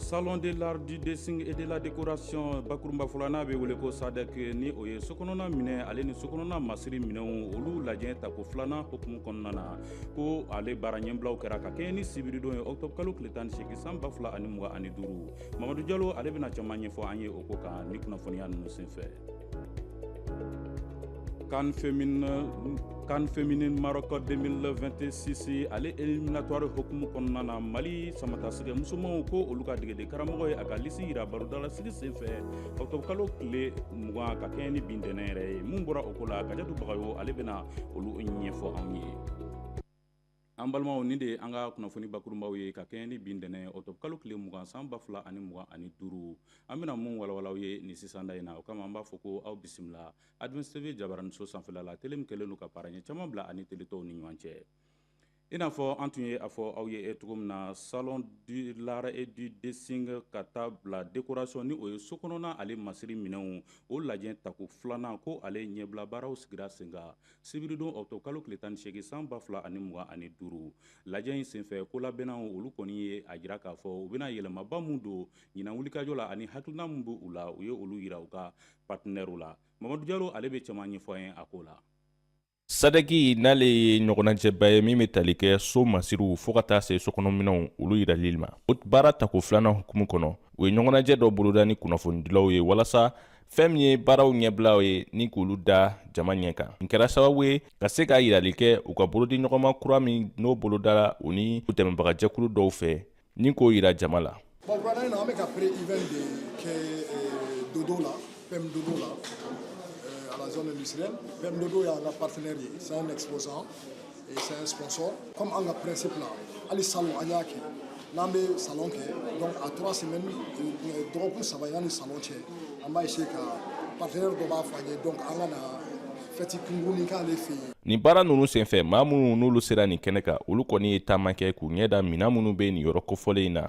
salon de l'art du dessin et de la décoration bakurunbafɔ la n'a bɛ wele ko sadɛk ni o ye sokɔnɔna minɛn ale ni sokɔnɔna masiri minɛnw olu lajɛ tako filanan hukumu kɔnɔna na ko ale baara ɲɛbilaw kɛra ka kɛɲɛ ni sibiridon ye octobre kalo tile tan ni seegin san ba fila ani mugan ani duuru mamadu jalo ale bɛna caman ɲɛfɔ an ye o ko kan ni kunnafoniya ninnu senfɛ Can féminin Maroc 2026 ale éliminatoire hukumu kɔnɔna na Mali samatasɛgɛ musomanw ko olu ka degeden karamɔgɔ ye a ka lisi yira barodalasigi senfɛ ɔktɔbukalo tile mugan ka kɛɲɛ ni bi ntɛnɛn yɛrɛ ye mun bɔra o ko la Kajatu Bagayogo ale bɛna olu ɲɛfɔ anw ye An balimaw ni de ye an ka kunnafoni bakurunbaw ye ka kɛɲɛ ni bi ntɛnɛn ye octobre kalo tile mugan san ba fila ani mugan ani duuru an bɛna minnu walawala aw ye nin sisan da in na o kama an b'a fɔ ko aw bisimila Adminis TV jabaraninso sanfɛla la tele min kɛlen don ka barrière caman bila a ni tele tɔw ni ɲɔgɔn cɛ i n'a fɔ an tun ye a fɔ aw ye cogo min na salon de l'art et du dessin ka taa bila décoration ni o ye sokɔnɔna ale masiri minɛnw o lajɛ tako filanan ko ale ɲɛbilabaaraw sigira sen sibiridon ɔkutɔbu kalo tile tan ni seegin san ba fila ani mugan ani duuru lajɛ in senfɛ kolabɛnnaw olu kɔni ye a jira k'a fɔ u bɛna yɛlɛmaba min don ɲinan wulikajɔ la ani hakilina min b'u la u ye olu yira u ka patinɛriw la mamadu jalo ale bɛ caman ɲɛfɔ an ye a ko la sadɛki n'ale ye ɲɔgɔnnajɛba ye min bɛ tali kɛ so masiriw fɔɔ ka taa se sokɔnɔminɛnw olu yirali ma baara tako filanan hukumu kɔnɔ u ye ɲɔgɔnnajɛ dɔ boloda ni kunnafonidilaw ye walasa fɛn min ye baaraw ɲɛbilaw ye ni k'olu da jama ɲɛ kan nin kɛra sababu ye ka se ka yirali kɛ u ka bolodi ɲɔgɔnma kura min n'o bolodara u ni u dɛmɛbagajɛkulu dɔw fɛ ni k'o yira jama la bon wulada in na an bɛ ka pré-event de kɛ eh, dodo la PM Dodo la eh, à la zone industrielle PM Dodo y'an ka partenaire ye c'est un exposant c'est un sponsor comme an ka principe la hali salon an y'a kɛ n'an bɛ salon kɛ donc à trois semaines euh, dɔgɔkun saba yanni salon cɛ an b'a essayer ka partenaire dɔ b'a fɔ an ye donc an ka na fɛti kunkurunnin k'ale fɛ yen nin baara nunu senfɛ maa minnu n'olu sera nin kɛnɛ kan olu kɔni ye taama kɛ k'u ɲɛ da minan minnu bɛ nin yɔrɔ kofɔlen in na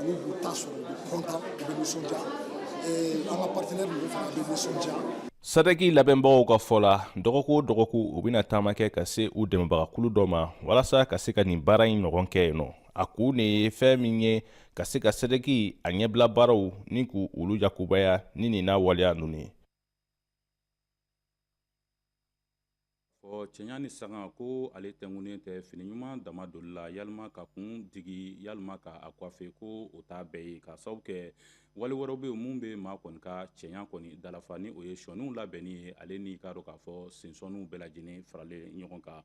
Olu b'u ta sɔrɔ u bɛ kɔntan u bɛ nisɔndiya an ka partenaire ninnu fana bɛ nisɔndiya sadɛki labɛnbagaw ka fɔ la dɔgɔkun o dɔgɔkun u bɛna taama kɛ ka se u dɛmɛbagakulu dɔ ma walasa ka se ka nin baara in ɲɔgɔn kɛ yen nɔ a kun de ye fɛn min ye ka se ka sadɛki a ɲɛbila baaraw ni k'u olu yakubaya ni nin n'a waleya ninnu ye Ɔ cɛɲa ni sangako ale tɛngunnen tɛ fini ɲuman dama donni la yalima ka kun digi yalima k'a coiffer ko o t'a bɛɛ ye ka sababu kɛ wale wɛrɛw bɛ minnu bɛ maa kɔni ka cɛɲa kɔni dalafa ni o ye sɔniw labɛnni ye ale ni k'a dɔn k'a fɔ sensɔniw bɛɛ lajɛlen faralen ɲɔgɔn kan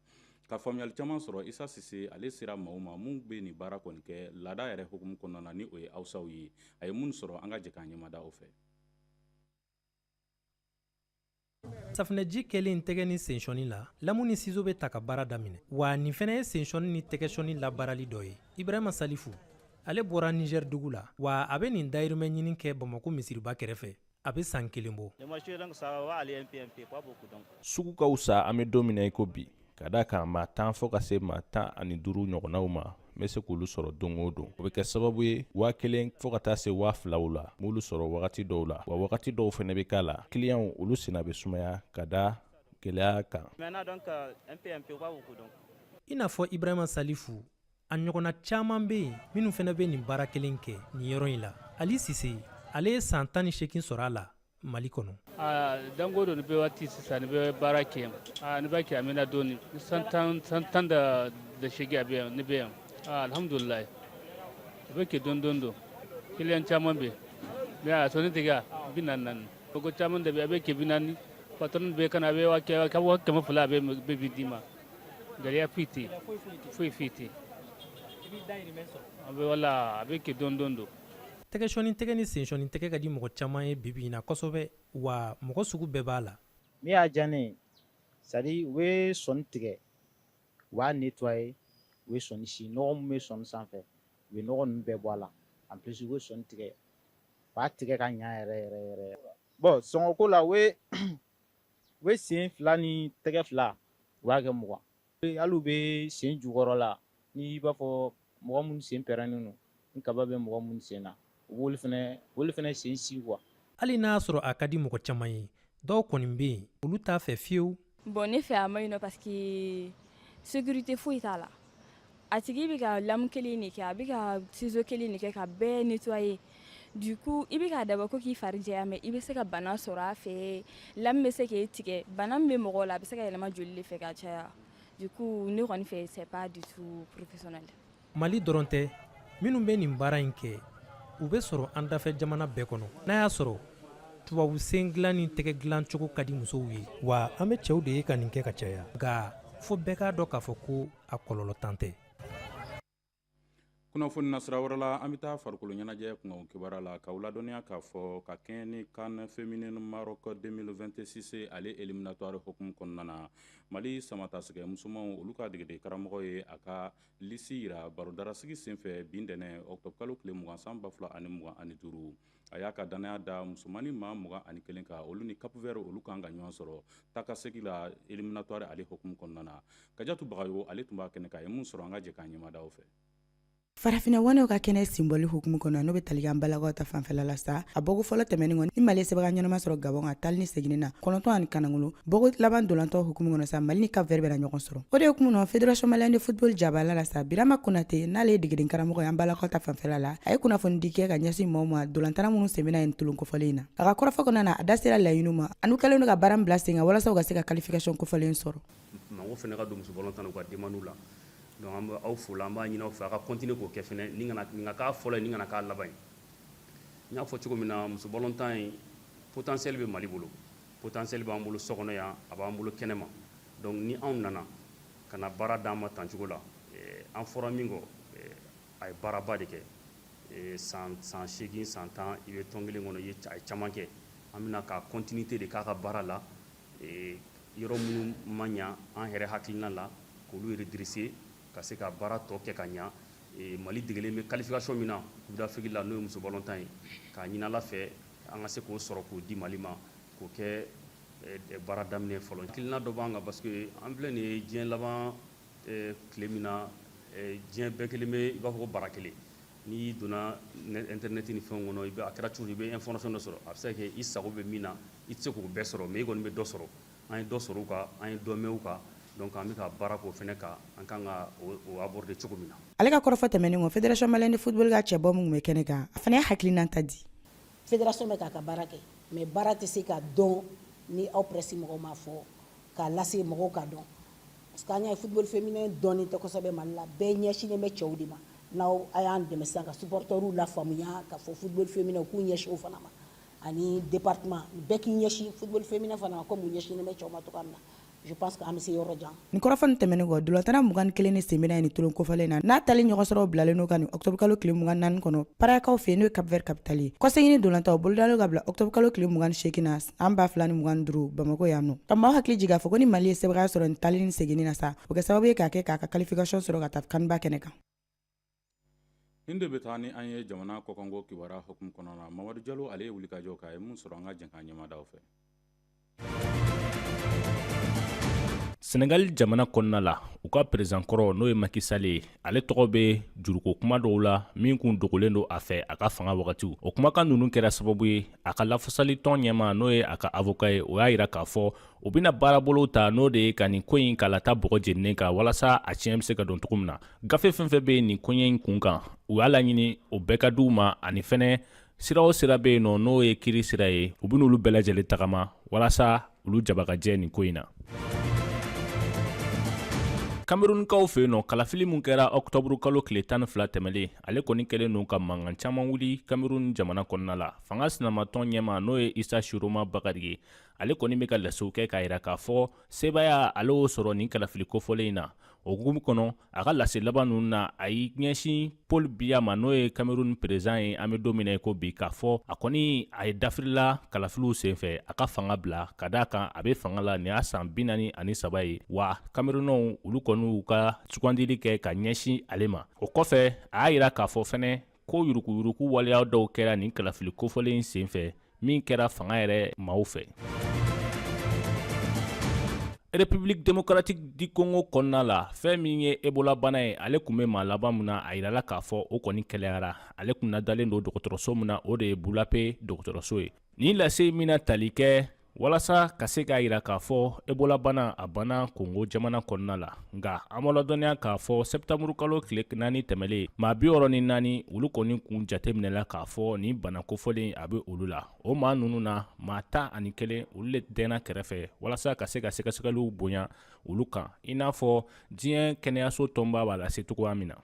ka faamuyali caman sɔrɔ isa sise ale sera maaw ma minnu bɛ nin baara kɔni kɛ laada yɛrɛ hukumu kɔnɔna na ni o ye awusaw ye a ye minnu sɔrɔ an ka jɛ k'an ɲɛmada o fɛ safinɛji kɛlen tɛgɛ ni sensɔni la lamu ni sizo bɛ ta ka baara daminɛ wa nin fɛnɛ ye sensɔni ni tɛgɛsɔni labaarali dɔ ye ibrahima salifu ale bɔra nizɛri dugu la wa a bɛ nin dayirimɛ ɲini kɛ bamako misiriba kɛrɛfɛ a bɛ san kelen bɔ sugu ka fisa an bɛ don min na i ko bi Ka da a kan maa tan fɔ ka se maa tan ani duuru ɲɔgɔnnaw ma n bɛ se k'olu sɔrɔ don o don o bɛ kɛ sababu ye waa kelen fɔɔ ka taa se waa filaw la m'olu sɔrɔ wagati dɔw la wa wagati dɔw fɛnɛ bɛ k'a la kiliyanw olu senna bɛ sumaya ka da gɛlɛya kan i n'a fɔ ibrahima salifu a ɲɔgɔnna caaman be yen minnu fɛnɛ be nin baara kelen kɛ nin yɔrɔ in la ali sise ale ye san tan ni seegin sɔrɔ a la mali kɔnɔ danko don ni bɛ waati sisan ni bɛ baara kɛ ni b'a kɛ a mɛnna dɔɔni san tan da seegin a bɛ yan ne bɛ yan alhamdulilayi a bɛ kɛ dɔɔni dɔɔni don kiliyan caman bɛ yen mɛ a sɔni tigɛ bi naani naani ko caman de bɛ a bɛ kɛ bi naani patɔrɔn bɛ ka na a bɛ kɛmɛ fila a bɛ bi d'i ma gɛlɛya foyi tɛ yen foyi foyi tɛ yen a bɛ wala a bɛ kɛ dɔɔni dɔɔni don tɛgɛsɔni tigɛ ni sensɔni tigɛ ka di mɔgɔ caman ye bibi in na kosɛbɛ wa mɔgɔ sugu bɛɛ b'a la min y'a diya ne ye c'est à dire u bɛ sɔni tigɛ u b'a nettoyer u bɛ sɔni si nɔgɔ min bɛ sɔni sanfɛ u bɛ nɔgɔ ninnu bɛɛ bɔ a la en plus u bɛ sɔni tigɛ u b'a tigɛ ka ɲa yɛrɛ yɛrɛ yɛrɛ bon sɔngɔko la u bɛ u bɛ sen fila ni tɛgɛ fila u b'a kɛ mugan hali u bɛ sen jukɔrɔ la n'i b'a fɔ mɔgɔ minnu sen pɛrɛnnen don ni kaba bɛ mɔgɔ minnu sen na u b'olu fɛnɛ sen si quoi hali n'a y'a sɔrɔ a ka di mɔgɔ caman ye dɔw kɔni bɛ yen olu t'a fɛ fiyewu bon ne fɛ a man ɲi non parce que sécurité foyi t'a la A tigi bɛ ka lamu kelen de kɛ a bɛ ka sizo kelen de kɛ ka bɛɛ nettoyer du coup i bɛ k'a dabɔ ko k'i fari jɛya mais i bɛ se ka bana sɔrɔ a fɛ lamu bɛ se k'i tigɛ bana min bɛ mɔgɔ la a bɛ se ka yɛlɛma joli de fɛ ka caya du coup ne kɔni fɛ c'est pas du tout professionnel mali dɔrɔn tɛ minnu bɛ nin baara in kɛ u bɛ sɔrɔ an dafɛ jamana bɛɛ kɔnɔ n'a y'a sɔrɔ tubabu sen dilan ni tɛgɛ dilancogo ka di musow ye wa an bɛ cɛw de ye ka nin kɛ ka caya nka fo bɛɛ k'a dɔn k'a fɔ ko a kɔlɔlɔ tan tɛ kunnafoni nasira wɛrɛ la an bɛ taa farikolo ɲɛnajɛ kunkan kibaruya la k'aw ladɔnniya k'a fɔ ka kɛɲɛ ni CAN féminine Maroc 2026 ale éliminatoire hukumu kɔnɔna na mali samatasɛgɛ musomanw olu ka degeden karamɔgɔ ye a ka lisi yira barodarasigi senfɛ bi ntɛnɛn ɔktɔbukalo tile mugan san ba fila ani mugan ani duuru A y'a ka dannaya da musomannin maa mugan ani kelen kan olu ni Cap Vert olu kan ka ɲɔgɔn sɔrɔ taakasegin la éliminatoire ale hukumu kɔnɔna na kajatu Bagayogo ale tun b'a kɛnɛ kan a ye min sɔrɔ an ka jɛ k'an ɲɛmada o fɛ farafinna waanew ka kɛnɛ simboli hukumu kɔnɔ n'o bɛ tali kɛ an balakaw ta fanfɛla la sa a bɔko fɔlɔ tɛmɛnen kɔ ni mali sebaaya ɲɛnama sɔrɔ Gabon kan taali ni seginni na kɔnɔntɔn ani kanakolo Bɔko laban dolantɔ hukumu kɔnɔ sa Mali ni Cap Vert bɛna ɲɔgɔn sɔrɔ. O de hukumu kɔnɔ Fédération Malienne de Football jabala la sa Birama Konate n'ale ye degeden karamɔgɔ ye an balakaw ta fanfɛla la, a ye kunnafonidi kɛ ka ɲɛsin maaw ma dolantana minnu sen bɛna ye tolon kofɔlen in na. A ka kɔrɔfɔ kɔnɔna na, a da sera laɲiniw ma an'u kɛlen don ka baara min bila sen kan walasa u ka se ka qualification kofɔlen sɔrɔ. Mɔgɔw fana ka don muso balɔntan na u ka demandiw la. Donc an bɛ aw fo la, an b'a ɲini aw fɛ aw ka continuer k'o kɛ fana. Nin kana nin ka k'a fɔlɔ ye, nin kana k'a laban ye. N y'a fɔ cogo min na, muso balɔntan in potentiel bɛ Mali bolo. Potentiel b'an bolo so kɔnɔ yan a b'an bolo kɛnɛma donc ni anw nana ka na baara d'an ma tan cogo la eh, an fɔra min kɔ eh, a ye baaraba de kɛ eh, san san seegin san tan i bɛ tɔn kelen kɔnɔ i ye a ye caman kɛ an bɛna ka continuité de k'a ka baara la yɔrɔ minnu ma ɲa an yɛrɛ hakilina la k'olu redresser ka se ka baara tɔ kɛ ka ɲa mali degelen bɛ qualification min na coupe d'Afrique la n'o ye muso balɔntan ye k'a ɲini Ala fɛ an ka se k'o sɔrɔ k'o di mali ma k'o kɛ baara daminɛ fɔlɔ hakilina dɔ b'an kan parce que an filɛ nin ye diɲɛ laban tile min na diɲɛ bɛɛ kɛlen bɛ i b'a fɔ ko bara kelen n'i donna internet ni fɛnw kɔnɔ i a kɛra cogo i bɛ information dɔ sɔrɔ a bɛ se ka kɛ i sago bɛ min na i tɛ se k'o bɛɛ sɔrɔ mais i kɔni bɛ dɔ sɔrɔ an ye dɔ sɔrɔ u kan an ye dɔ mɛn u kan donc an bɛ ka baara k'o fana kan an ka kan ka o aborder cogo min na ale ka kɔrɔfɔ tɛmɛnen kɔ fédération malienne de football ka cɛbɔ min bɛ kɛnɛ kan a fana y'a hakilina ta di fédération bɛ k'a ka baara kɛ mais baara tɛ se ka dɔn ni aw presse mɔgɔw m'a fɔ k'a lase mɔgɔw k'a dɔn parce que an y'a ye football féminin dɔnnen tɛ kosɛbɛ mali la bɛɛ ɲɛsinnen bɛ cɛw de ma n'aw a y'an dɛmɛ ka supporters lafaamuya k'a fɔ football féminin k'u ɲɛsin o fana ma ani département bɛɛ k'i ɲɛsin football féminin fana ma comme u ɲɛsinnen bɛ cɛw ma cogo min na je pense que an bɛ se yɔrɔ jan nin kɔrɔfɔ tɛmɛnen kɔ dolantanna mugan ni kelen nin sen bɛna ye nin tolon kofɔlen na n'a taali ɲɔgɔn sɔrɔ bilalen n'o ka nin ɔktɔbukalo tile mugan ni naani kɔnɔ Praiakaw fɛ n'o ye Cap Vert capitale ye kɔsegin dolantan bolodalen ka bila ɔktɔbukalo tile mugan ni seegin na san ba fila ni mugan ni duuru bamakɔ yan nɔ ka maaw hakili jigin k'a fɔ ko ni mali ye sebaaya sɔrɔ nin taali ni seginni na sa o kɛ sababu ye k'a kɛ k'a ka qualification sɔrɔ ka taa CAN ba kɛnɛ kan nin de bɛ taa ni an ye jamana kɔkanko kibaruya hukumu kɔnɔna mamadu jalo ale ye wulikajɔ k'a ye mun sɔrɔ an ka jɛnkan ɲɛmaadaw fɛ sɛnɛgali jamana kɔnɔna la u ka perezidan kɔrɔ n'o ye maki sali ye ale tɔgɔ bɛ juruko kuma dɔw la min kun dogolen don a fɛ a ka fanga wagatiw o kumakan ninnu kɛra sababu ye a ka lafasali tɔn ɲɛma n'o ye a ka avoka ye o y'a yira k'a fɔ u bɛna baarabolo ta n'o de ye ka nin ko in k'a lata bɔgɔ jeninen kan walasa a tiɲɛ bɛ se ka dɔn cogo min na gafe fɛn fɛn bɛ nin koɲɛ in kun kan u y'a laɲini o bɛɛ ka di u ma ani fɛnɛ sira o sira bɛ yen nɔ n'o ye kiiri sira ye u bɛna olu bɛɛ lajɛlen tagama walasa olu jabagajɛ nin ko in na kamerunkaw fɛ yen nɔ kalafili min kɛra ɔkutɔburu kalo tile tan ni fila tɛmɛlen ale kɔni kɛlen don ka mankan caman wuli kamerun jamana kɔnɔna la fanga sinamatɔn ɲɛma n'o ye isa shiroma bakari ye ale kɔni bɛ ka lasew kɛ k'a yira k'a fɔ sebaaya ale y'o sɔrɔ nin kalafili kofɔlen in na o hukumu kɔnɔ a ka lase laban ninnu na a y'i ɲɛsin paul biya ma n'o ye cameroun perezidan ye an bɛ don min na ko bi k'a fɔ a kɔni a ye dafirila kalafiliw senfɛ a ka fanga bila ka d'a kan a bɛ fanga la nin y'a san bi naani ani saba ye wa camerounɛw olu kɔni y'u ka sugandili kɛ ka ɲɛsin ale ma o kɔfɛ a y'a yira k'a fɔ fɛnɛ ko yuruguyurugu waleya dɔw kɛra nin kalafili kofɔlen in senfɛ min kɛra fanga yɛrɛ maaw fɛ republiki demokratiki di kongo kɔnɔna la fɛn min ye ebola bana ye ale kun bɛ maa laban min na a yirala k'a fɔ o kɔni kɛnɛyara ale kun nadalen don dɔgɔtɔrɔso min na o de ye bulape dɔgɔtɔrɔso ye nin lase min na tali kɛ walasa ka se k'a yira k'a fɔ ebola bana a banna kongo jamana kɔnɔna la nka an b'a ladɔnniya k'a fɔ sɛtanburukalo tile naani tɛmɛlen maa bi wɔɔrɔ ni naani olu kɔni kun jateminɛla k'a fɔ nin bana kofɔlen a bɛ olu la o maa ninnu na maa tan ani kelen olu le dɛnna kɛrɛfɛ walasa ka se ka sɛgɛsɛgɛliw bonya olu kan i n'a fɔ diɲɛ kɛnɛyaso tɔnba b'a lase cogoya min na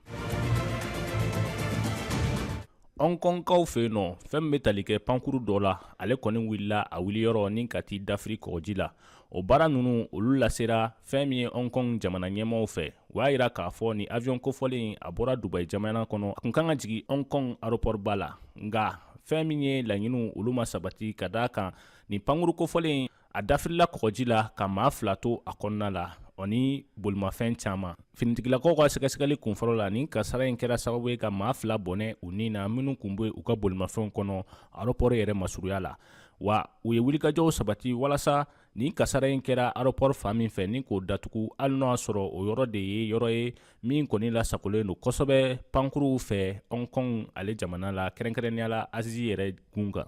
hɔnkɔnkaw fɛ yen nɔ fɛn min bɛ tali kɛ pankuru dɔ la ale kɔni wulila a wuliyɔrɔ nin ka t'i dafiri kɔgɔji la o baara ninnu olu lasera fɛn min ye hɔnkɔn jamana ɲɛmaaw fɛ u y'a yira k'a fɔ nin avion kofɔlen a bɔra dubayi jamana kɔnɔ a kun kan ka jigin hɔnkɔn aropɔriba la nka fɛn min ye laɲiniw olu ma sabati ka d'a kan nin pankuru kofɔlen a dafirila kɔgɔji la ka maa fila to a kɔnɔna la o ni bolimafɛn caman finitigilakaw ka sɛgɛsɛgɛli kunfɔlɔ la nin kasara in kɛra sababu ye ka maa fila bɔnɛ u ni na minnu kun bɛ u ka bolimafɛnw kɔnɔ aropɔri yɛrɛ masuruya la wa u ye wulikajɔw sabati walasa nin kasara in kɛra aropɔri fan min fɛ ni k'o datugu hali n'o y'a sɔrɔ o yɔrɔ de ye yɔrɔ ye min kɔni lasagolen don kosɛbɛ pankuruw fɛ hong kong ale jamana la kɛrɛnkɛrɛnnenya la azi yɛrɛ gun kan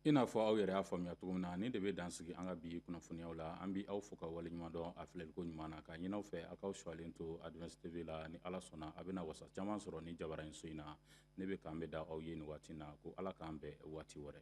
i n'a fɔ aw yɛrɛ y'a faamuya cogo min na nin de bɛ dan sigi an ka bi kunnafoniyaw la an bɛ aw fo ka waleɲuman dɔn a filɛliko ɲuman na k'a ɲin'aw fɛ a k'aw suwalen to advance tv la ni ala sɔnna a bɛna wasa caman sɔrɔ nin jabaranin so in na ne bɛ k'an bɛn da aw ye nin waati na ko ala k'an bɛn waati wɛrɛ